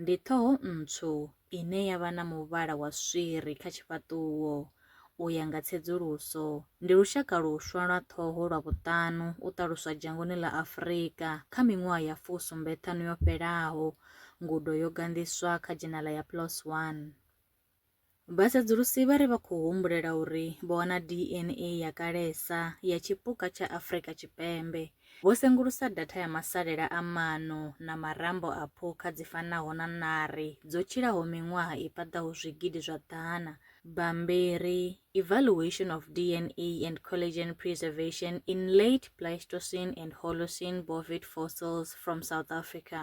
Ndi ṱhoho ntswu ine ya vha na muvhala wa swiri kha tshifhaṱuwo. U ya nga tsedzuluso, ndi lushaka luswa lwa ṱhoho lwa vhuṱanu u ṱaluswa dzhangoni ḽa Afrika kha miṅwaha ya fu sumbe ṱhanu yo fhelaho, ngudo yo ganḓiswa kha dzhenala ya PLOS One. Vhasedzulusi vha ri vha khou humbulela uri vho wana DNA ya kalesa ya tshipuka tsha Afrika Tshipembe. Vho sengulusa datha ya masalela a maano na marambo a phukha dzi fanaho na ṋari dzo tshilaho miṅwaha i paḓaho zwigidi zwa ḓana. Bammbiri, Evaluation of DNA and Collagen Preservation in Late Pleistocene and Holocene Bovid Fossils from South Africa,